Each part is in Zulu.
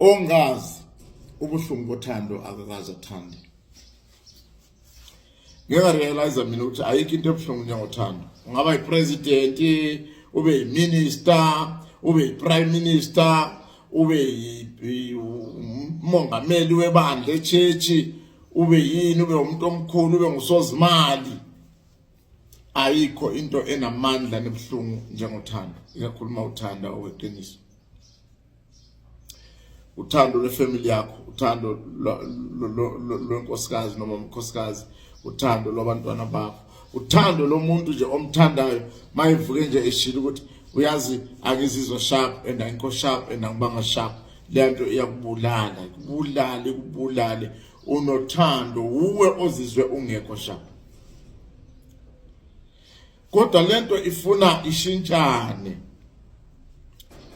ongazi ubuhlungu bothando akakaze athande ngeke realize mina ukuthi ayikho into ebuhlungu njengothando ungaba yipresident ube yiminister ube yiprime minister ube umongameli webandla echechi ube yini ube umuntu omkhulu ube ngusozimali ayikho into enamandla nebuhlungu njengothando ikakhulu uma uthanda oweqiniso uthando lwefamily yakho uthando lwenkosikazi noma umkhosikazi uthando lwabantwana bakho uthando lomuntu nje omthandayo mayivuke nje eshilo ukuthi uyazi angizizwa sharp and angikho sharp and angibanga sharp lento iyakubulala kubulale kubulale unothando uwe ozizwe ungekho sharp kodwa lento ifuna ishintshane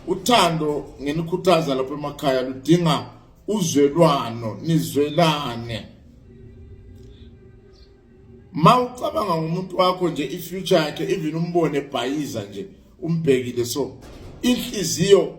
uthando ngenikhuthaza lapha emakhaya ludinga uzwelwano nizwelane mawucabanga ngomuntu wakho nje ifuture yakhe even umbone bhayiza nje umbhekile so inhliziyo